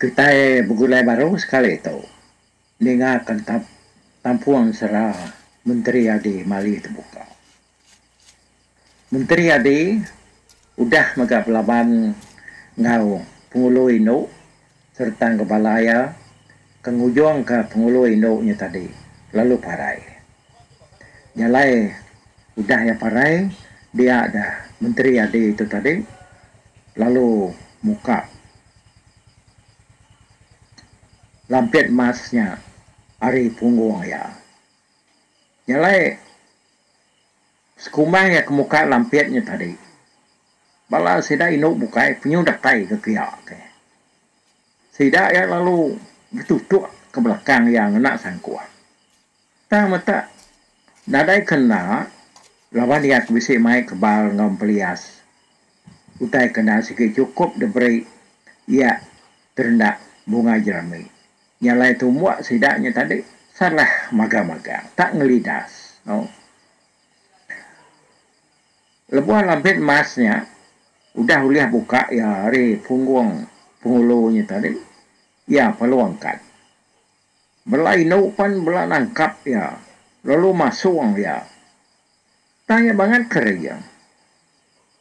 Kitai begulai baru sekali tu ninga ke tampung sera Menteri Adi Mali tebuka. Menteri Adi udah mega belaban enggau Pengulo Indu sereta enggau bala iya ke ngujungka Pengulo Indu nya tadi lalu parai. Jalai udah iya parai dia ga menteri adi tu tadi lalu muka lampit mas nya ari punggung iya. Jalai sekumang iya ke muka lampit nya tadi bala sida indu bukai penyu datai ke kiya ke. Sida iya lalu betutuk ke belakang iya ngena sangkuh. Tang meta nadai ke enda laban iya ke bisi mai kebal enggau empelias utai ke enda sigi chukup diberi iya terenda bunga jerami. Nya alai tumbuk sida nya tadi salah magang-magang, tak ngelidas. Au. Lebuh lampit mas nya udah ulih buka iya ari punggung Pengulu nya tadi, iya pelungkat. Bela indu pan bela nangkap iya lalu masung iya. Tang iya bangat keri iya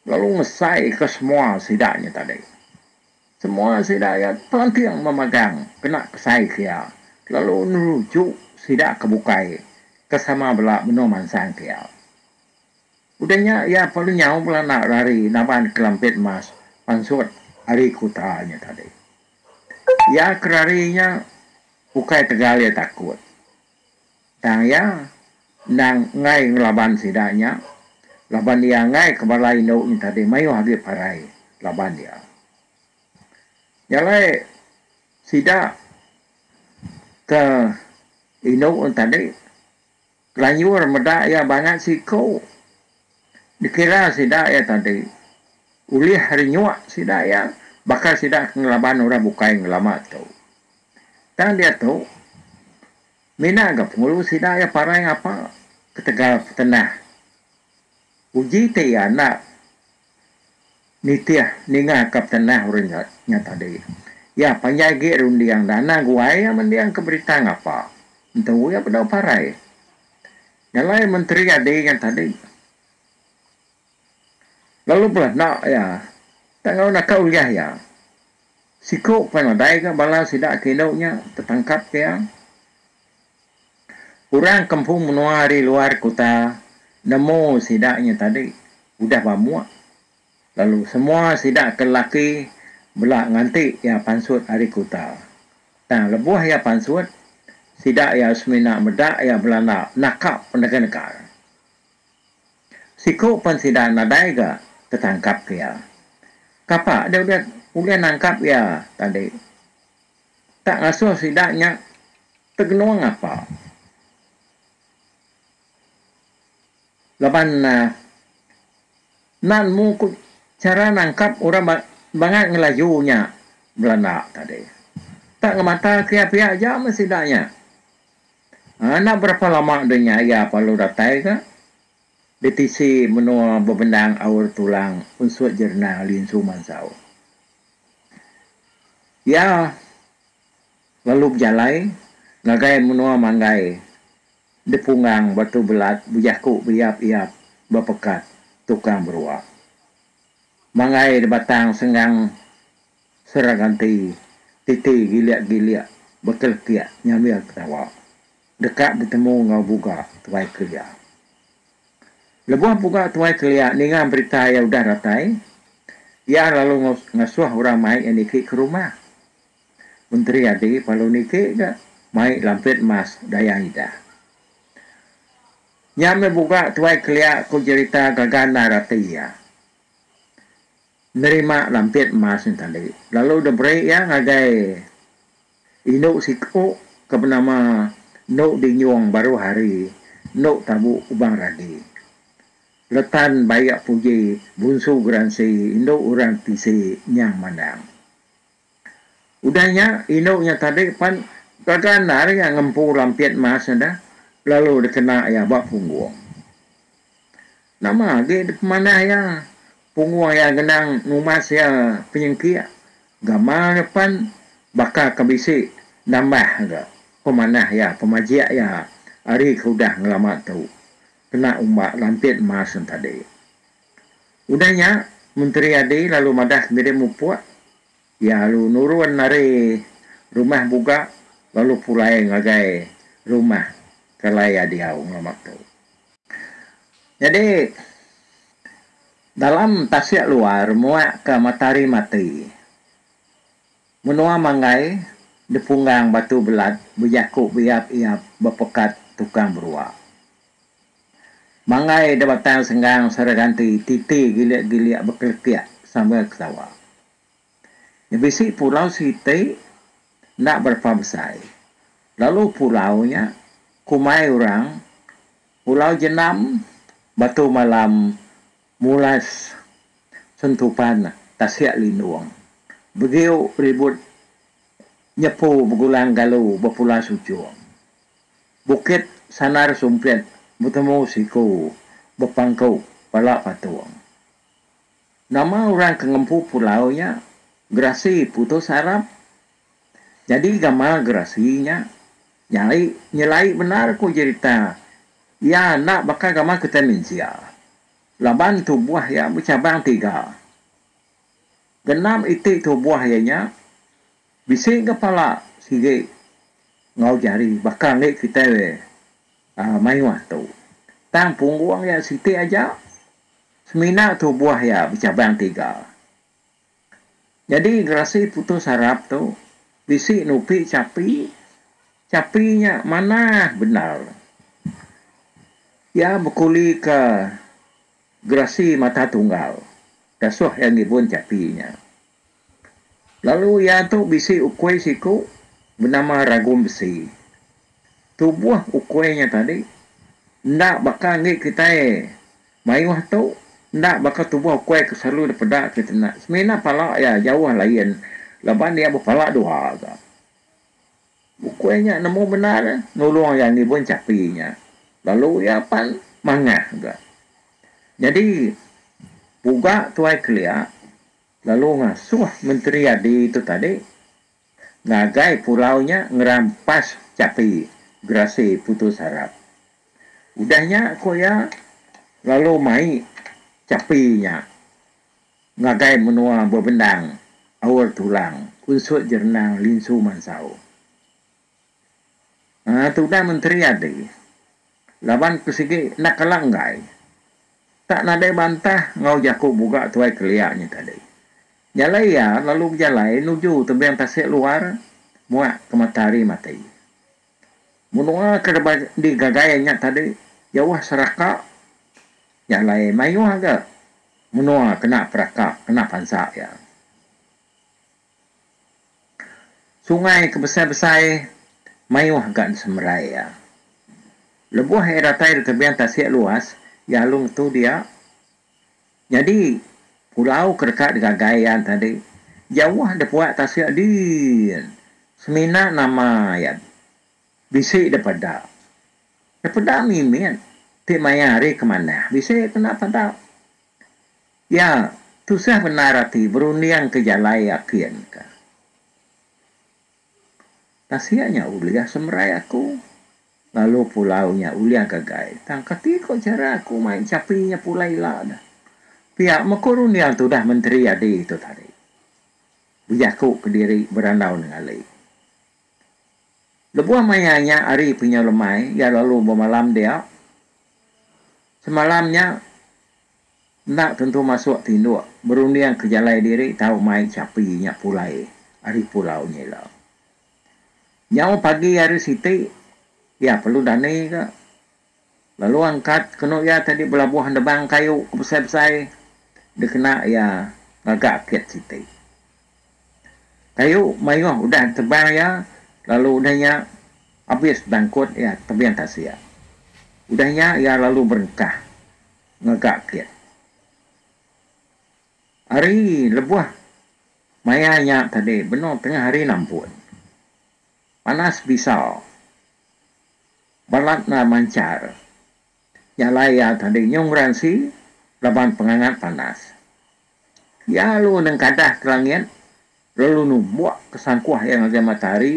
lalu ngesaika semua sida nya tadi. Semua sida iya telanting memagang kena kesaika iya lalu neruju sida ke bukai ke sama bela benung mansangka iya. Udah nya iya pun nyau bela enda rari naban kelampit emas pansut ari kuta nya tadi. Iya ke rari nya ukai tegal iya takut tang iya endang enggai ngelaban sida nya laban iya enggai ke bala indu nya tadi mayuh agi parai laban iya. Nya alai sida ke indu nya tadi. Kelanjur meda iya bangat siku. Dikira sida iya tadi. Ulih hari nyuk sida iya, baka sida ke ngelaban orang bukai ngelama tu. Tang diatu, mina ga pengulu sida iya parai ngapa ketegal petenah. Uji ti iya enda Nitih ninga ka petenah Orang Jat nya tadi. Iya panjai agi runding dana guai iya mendingka berita ngapa. Entu iya bedau parai. Nyalai menteri adi nya tadi. Lalu bela enda iya tak ngau naka ulih iya. Siku pan nadai ga bala sida ke indu nya tetangkap ke iya. Orang kempung menua ari luar kuta nemu sida nya tadi udah bamuk lalu semua sida ke lelaki bela nganti iya pansut ari kuta. Tang lebuh iya pansut, sida iya semina meda iya belanda naka penegernega. Siku pen sida nadai ga tetangkapka iya. Kapa deh ulih ulih nangkap iya tadi? Tak ngasuh sida nya tegenung apa. Laban enda nemu ku chara nangkap orang bangat ngelaju nya Belanda tadi. Tak ngemata kiah pia aja meh sida nya. Enda berapa lama deh nya iya lalu datai ga ditisi menua bebendang aur tulang unsut Jerenang Lin Su Mansau. Iya lalu bejalai ngagai menua manggai dipunggang batu belat bejaku beiap-iap bepekat tukang berua. Manggai dibatang senggang Seraganti titi gilik-gilik bekelekik nyambil ketawa deka betemu enggau buga tuai kelia. Lebuh Puga Tuai kelia ninga berita iya udah datai, iya lalu ngasuh orang mai iya niki ke rumah. Menteri adi palu niki ga mai lampit mas daya idah. Nya meh Puga Tuai kelia ku jerita gaga endar rati iya nerima lampit mas nya tadi lalu deberi iya ngagai. Indu siku ke benama Enu Dinyong baruh hari enu tabu Kubang Radi. Letan Bayak Puji bunsu geransi indu orang tisi Nyang Mandang. Udah nya indu nya tadi pan begandar iya ngempu lampit mas enda lalu dikena iya ba punggung. Nama agi dipemanah iya punguh iya ngenang numas iya penyengkik gamal iya pan baka ke bisi nambah ga pemanah iya pemajik iya ari ke udah ngelama tu kena umba lantit mas nya tadi. Udah nya Menteri Adi lalu madah ngirim mupuk Iya lalu nurun ari rumah Buga lalu pulai ngagai rumah Kelai Adiau ngelama tu. Nyadi dalam tasik luar muak ka matahari mati. Menua Manggai dipunggang batu belat bejaku beiap-iap bepekat tukang berua. Manggai da batang senggang sara ganti titi gilik-gilik bekelekik sambil ketawa. Nya bisi pulau siti enda berapa besai lalu pulau nya kumai orang pulau jenam batu malam mulas sentupan tasik lindung begiu ribut nyepu begulang galu bepula sujung bukit sanar sumpit betemu siku bepangku pala patung. Nama orang ke ngempu pulau nya gerasi putus arap? Jadi gama gerasi nya nyai nyelai bendar ku jerita iya enda baka gama kitai mensia laban tubuh iya becabang tiga. Genap iti tubuh iya nya bisi ga pala sigi enggau jari baka enggi kitai mayuh tu. Tang punggung iya siti aja Semina tubuh iya becabang tiga. Nyadi gerasi putus arap tu bisi nupi chapi, chapi nya manah bendar. Iya bekulika gerasi mata tunggal dasuh iya ngibun chapi nya. Lalu iya tu bisi ukui siku benama ragum besi. Tubuh ukui nya tadi enda baka enggi kitai mayuh tu enda baka tubuh ukui ke selalu dipeda ke tena. Semina pala iya jauh lain laban iya bepala dua ga. Ukui nya nemu bendar nulung iya ngibun chapi nya lalu iya pan mangah ga. Nyadi puga Tuai Kelia. lalu ngasuh Menteri Adi tu tadi ngagai pulau nya ngerampas chapi gerasi putus harap. Udah nya ku iya lalu mai chapi nya ngagai menua bebendang Aur Tulang, Unsut Jerenang, Linsu Mansau. Aa tudah menteri adi laban ku sigi enda kala enggai tak nadai bantah enggau jaku buga tuai kelia nya tadi. Jalai iya lalu bejalai nuju tebing tasik luar muak ke matahari mati. Menua ke rebak digagai nya tadi jauh seraka jalai mayuh ga menua kena peraka kena pansa iya. Sungai ke besai-besai mayuh ga disemerai iya. Lebuh iya datai di tebian tasik luas Yalung tu dia, nyadi pulau ke deka digagai iya tadi jauh dipuak tasik din semina nama iya bisi da peda. Da peda mimit ti maya hari ke manah bisi kena peda. Ya, tusah bendar ati berunding ke jalai akin ka. Tasik nya ulih semerai aku, lalu pulau nya ulih gagai. Tang kati ko chara aku mai chapi nya pulai ila dah. Pia meh ko runding tu udah menteri adi tu tadi. Bejaku kediri berandau nengali. Lebuh maya nya hari penyau lemai, iya lalu bemalam dia. Semalam nya Enda tentu masuk tinduk berunding ke jalai diri tau mai chapi nya pulai ari pulau nya ila. Nyau pagi hari siti, iya perlu dani ga lalu angkat kenu iya tadi belabuh endebang kayu ke besai-besai dikena iya ngaga kit siti. Kayu mayuh udah ditebang iya lalu udah nya abis bangkut iya tebing tasik. Udah nya iya lalu berengkah. mega kit. Hari lebuh maya nya tadi benung tengah hari nampun. Panas bisa. Balat enda manchar. Nya alai iya tadi nyung beransi laban pengangat panas. Iya lalu nengkadah ke langit lalu numbuk ke sangkuh iya ngagai matahari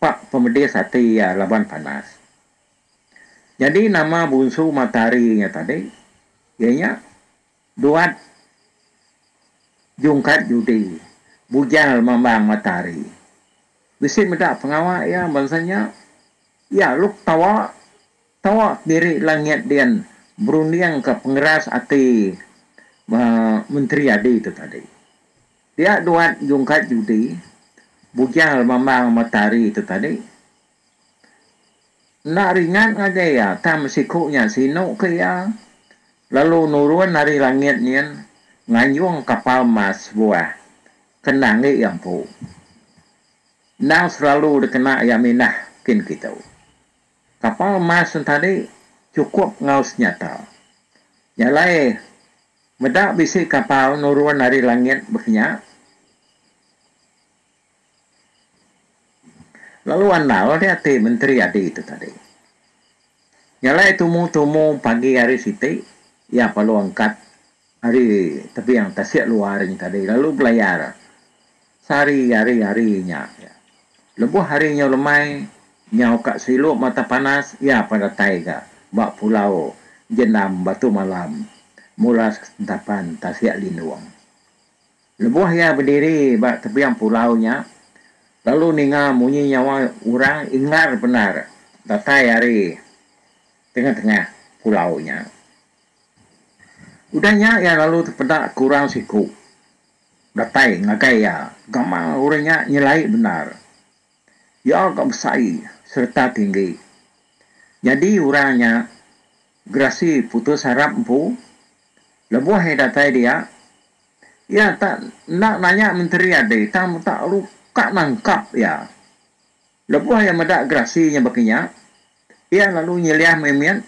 pak pemedis ati iya laban panas. Jadi nama bunsu matahari nya tadi iya nya duat jungkat judi bujal mambang matahari. Bisi meda pengawa iya bansa nya iya luk tawa tawa kendiri langit dian berundingka pengeras ati uhh menteri adi tu tadi. Dia duat jungkat judi bujal mambang matahari tu tadi. Enda ringat ngagai iya, tang besiku nya sinu ke iya, lalu nurun ari langit nyin nganjung kapal mas sebuah ke enda enggi iya empu. Endang selalu dikena iya mindah kin kitu. Kapal mas nya tadi chukup enggau senyata. Nya alai, meda bisi kapal nurun ari langit baka nya, Lalu andal dia ti menteri adi tu tadi. Nyalai tumu-tumu pagi hari siti iya perlu angkat ari tebing tasik luar nya tadi lalu belayar sehari ari hari nya. Lebuh hari nyau lemai nyau ka silu mata panas iya pan datai ga ba pulau Jenam Batu Malam mula sentapan tasik Lindung. Lebuh iya bediri ba tebiang pulau nya lalu ninga munyi nyawa orang ingar bendar datai ari tengah-tengah pulau nya. Udah nya iya lalu tepeda ke orang siku datai ngagai iya gamal orang nya nyelai bendar. Iya ga besai sereta tinggi. Nyadi orang nya Gerasi putus harap empu lebuh iya datai dia, iya tak enda nanya menteri adi tang menta lalu ka nangkap iya. Lebuh iya meda gerasi nya baka nya, iya lalu nyeliah mit-mit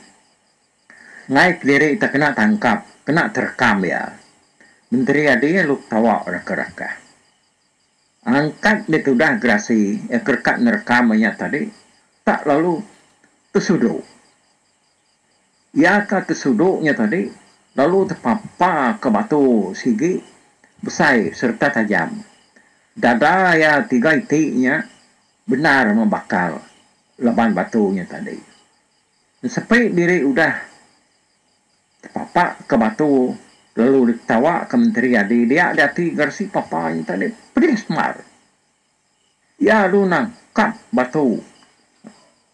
enggai kediri tak kena tangkap, kena terekam iya. Menteri adi lalu ketawa rakah-rakah. Angkat ditudah gerasi iya ke reka nerekam iya nya tadi tak lalu tesudu. Iya ka ke sudu nya tadi lalu tepapa ka batu sigi besai sereta tajam. Dada iya tiga iti nya bendar membakal laban batu nya tadi. Ensepi diri udah tepapa ka batu lalu diketawa ka Menteri Adi dia di ati garsi papa nya tadi pedis mar. Iya alu nang kad batu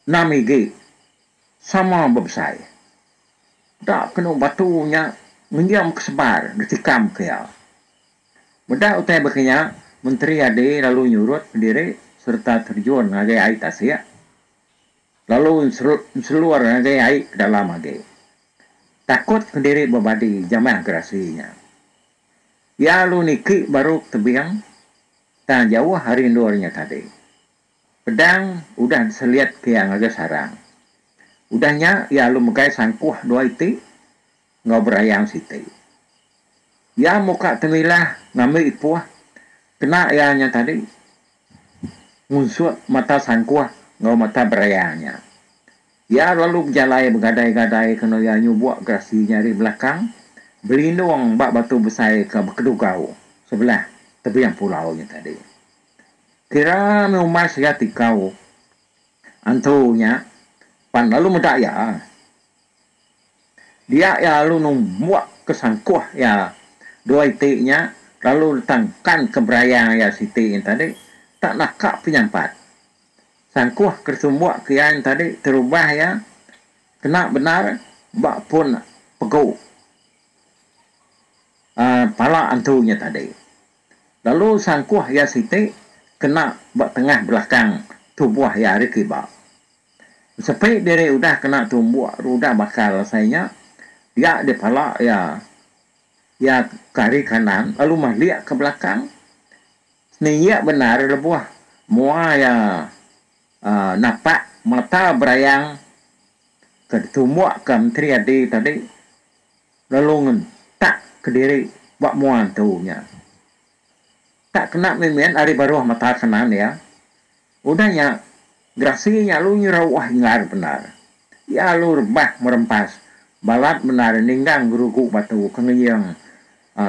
enam igi sama bebesai. Enda kenu batu nya ngenjam ke sebar ditikam ke iya. Meda utai baka nya, Menteri Adi lalu nyurut pendiri sereta terjun ngagai ai tasik lalu enselur ngagai ai ke dalam agi takut pendiri bebadi jamah gerasi nya. Iya alu niki baru tebing tang jauh ari endur nya tadi. Pedang udah diseliat ke iya ngagai sarang. Udah nya iya alu megai sangkuh dua iti enggau berayang siti. Iya muka temilah ngambi ipuh kena iya nya tadi ngunsut mata sangkuh enggau mata berayang nya. Iya lalu bejalai begadai-gadai kena iya nyubuk gerasi nya ari belakang belindung ba batu besai ke bekedugau sebelah tebing pulau nya tadi. Kira meh umai sega tikau antu nya pan lalu meda iya. Dia iya lalu numbuk ke sangkuh iya dua iti nya lalu ditangkanka berayang iya siti nya tadi tak naka penyampat. Sangkuh ke sumbok kian tadi terubah iya kena bendar ba pun pegu uhh pala antu nya tadi. Lalu sangkuh iya siti kena ba tengah belakang tubuh iya ari kiba. Sepi diri udah kena tumbok rudah bakal asai nya dia di pala iya iya ke ari kanan lalu malik ke belakang. Ni iya bendar lebuh mua iya napak mata berayang ke ditumbuk ke Menteri RD tadi lalu ngentak kediri ba mua entu nya. Tak kena mimin ari baruh mata kanan iya. Udah nya gerasi nya alu nyerauh inggar bendar. Iya alu rebah merempas balat bendar ninggang gerugu batu ke ngeyeng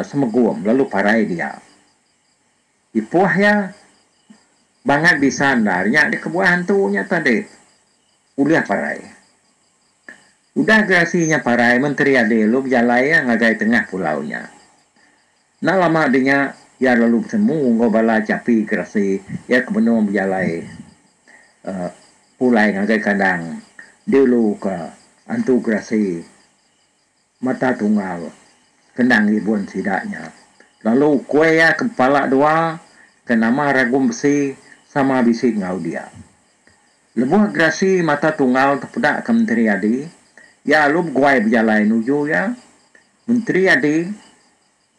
Semegum lalu parai dia. Ipoh iya bangat bisa endar nya di kebuah antu nya tadi ulih parai. Udah gerasi nya parai menteri adi lalu bejalai iya ngagai tengah pulau nya. Enda lama dinya iya lalu betemu enggau bala chapi gerasi iya ke benung bejalai uhh pulai ngagai kandang diulu ka antu gerasi. Mata tunggal, kena ngibun sida nya. Lalu kuih iya ke bepala dua, ke nama Ragum Besi, sama bisi enggau dia. Lebuh gerasi mata tunggal tu peda ke Menteri Adi, iya alu beguai bejalai nuju iya. Menteri Adi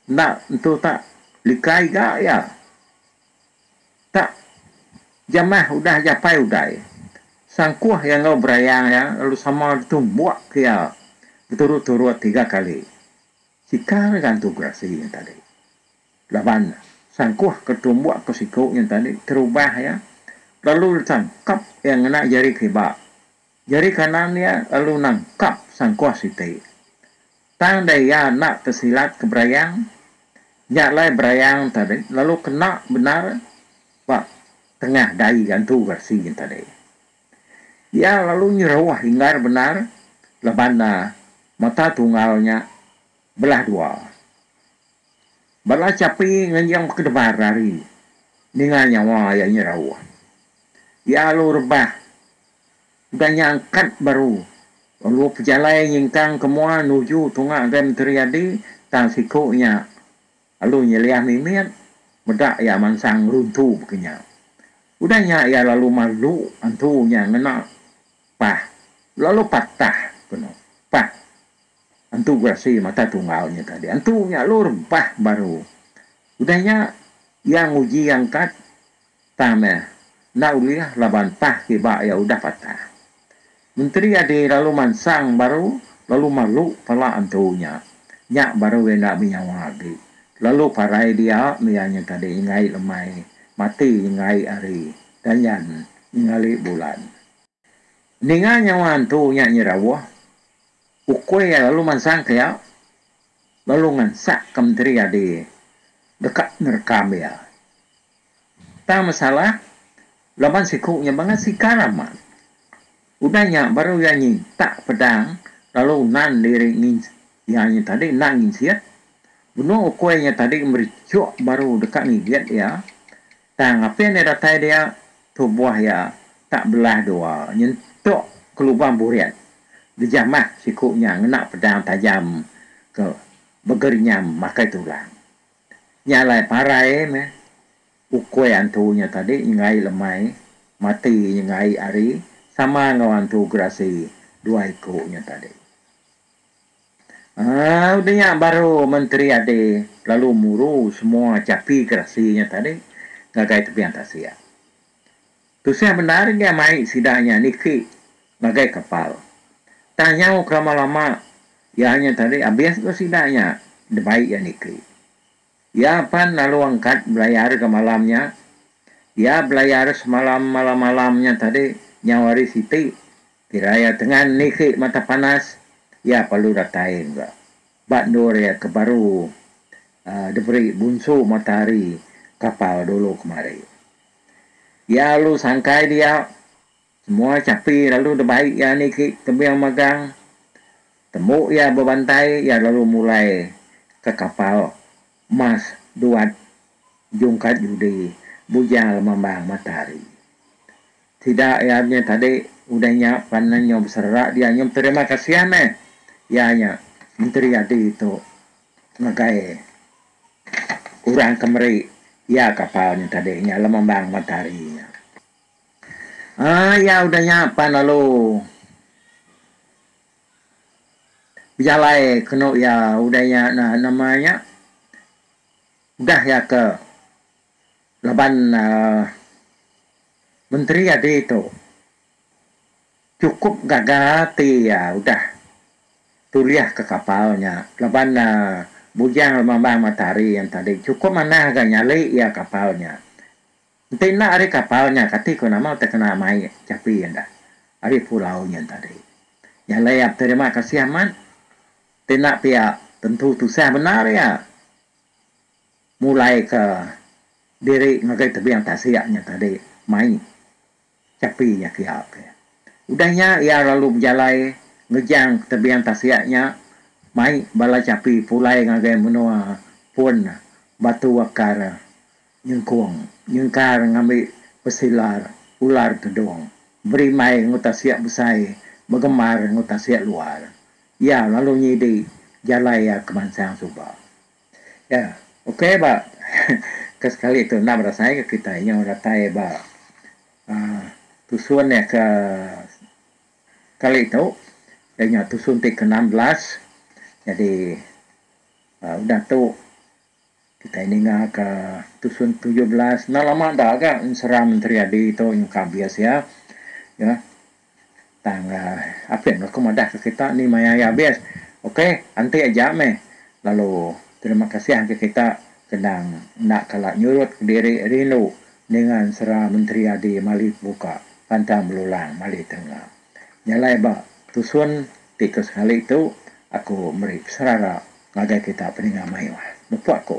enda entu tak lika iga iya. Tak jamah udah japai uday, sangkuh iya enggau berayang iya lalu sama ditumbuk ke iya beturut-turut tiga kali. Sikar iya gantu gerasi nya tadi laban sangkuh ke ditumbuk ke siku nya tadi terubah iya lalu ditangkap iya ngena jari kiba Jari kanan iya lalu nangkap sangkuh siti. Tang deh iya enda tesilat ke berayang, nya alai berayang tadi lalu kena bendar ba tengah dai gantu geresi nya tadi. Iya lalu nyeruh inggar bendar laban mata tunggal nya belah dua. Bala chapi ngenjing bekedebar ari ninga nyawa iya nyeruh. Iya lalu rebah. Udah nya angkat baru lalu pejalai nyingkang ke mua nuju tunga Agai Menteri Adi tang siku nya lalu nyeliah mimit meda iya mansang ngeruntu baka nya. Udah nya iya lalu malu antu nya ngena pah lalu patah ke no pah antu gerasi mata tunggal nya tadi. Antu nya lalu rebah baru. Udah nya iya nguji angkat. Tang meh, enda ulih laban tah kiba iya udah patah. Menteri adi lalu mansang baru lalu malu pala entu nya. Nya baru iya enda benyawa agi. Lalu parai dia mega nya tadi nyenggai lemai, mati nyenggai hari, danyan nyengali bulan. Ninga nyawa entu nya nyerauh, ukui iya lalu mansang ke iya, lalu ngansak ke menteri adi deka nerekam iya. Tang masalah, laban siku nya bangat sikar amat. Udah nya baru iya nyintak pedang lalu nan diri ngin iya nya tadi enda nginsit. Benung ukui nya tadi merichuk baru deka ngigit iya. Tang apin iya datai dia, tubuh iya tak belah dua nyentuk ke lubang burit gejamah siku nya ngena pedang tajam ke begerenyam makai tulang. Nya alai parai meh ukui antu nya tadi nyenggaie lemai mati nyenggaie ari sama enggau antu gerasi dua iku nya tadi. Aaa udah nya baru menteri ade lalu muru semua chapi gerasi nya tadi ngagai tebian tasik. Tusah bendar iya mai sida nya niki ngagai kapal. Tang nyau kelama lama iya nya tadi abis tu sida nya debai iya niki. Iya pan lalu angkat belayar ga malam nya. Iya belayar semalam malam malam nya tadi nyau hari siti kira iya tengan niki mata panas iya perlu datai ga ba endur iya ke baru diberi bunsu matahari kapal dulu kemari. Iya lalu sangkai dia, semua chapi lalu debai iya niki tebing magang. Tembu iya bebantai iya lalu mulai ke kapal mas duat jungkat judi bujang lemambang matahari. Sida iya nya tadi udah nya pan nyau beserera dia nyau beterima kasih meh iya nya menteri adi tu ngagai. Orang ke meri iya kapal nya tadi nya Lemembang Mentari nya. Ai iya udah nya pan lalu bejalai kenu iya udah iya nama nya udah iya ke laban aaa menteri adi tu. Chukup gaga ati iya udah tulih ke kapal nya laban bujang lemambang matahari yang tadi chukup manah ga nyali iya kapal nya. Enti enda ari kapal nya kati ko nama utai kena mai chapi enda ari pulau nya tadi. Nyalai iya beterima kasih amat enti enda pia tentu tusah bendar iya mulai ke diri ngagai tebing tasik nya tadi mai. Chapi nya kia ke. Udah nya iya lalu bejalai ngejang ke tebing tasik nya mai bala chapi pulai ngagai menua pun Batu Akar nyengkung nyengkar ngambi pesilar ular tedong berimbai enggau tasik besai begemar enggau tasik luar. Iya lalu nyidi jalai iya kemansang suba. Ya, ukai ba ke sekali tu endang berasai ke kitai nyau datai ba tusun iya ke sekali tu iya nya tusun ti ke enam belas jadi udah tu kitai ninga ke tusun ti ke tujuh belas enda lama enda ga Menteri Adi tu nyungka abis iya. Tang apin aku madahka kita ni maya iya abis. Ok, enti aja meh. Lalu terima kasih engka kita ke endang enda kala nyurut ke diri rindu ninga ensera menteri adi mali pemuka pantang belulang mali tenga. Nyalai ba tusun ti ke sekali tu aku meri peserara ngagai kita peninga mayuh. Mepu aku.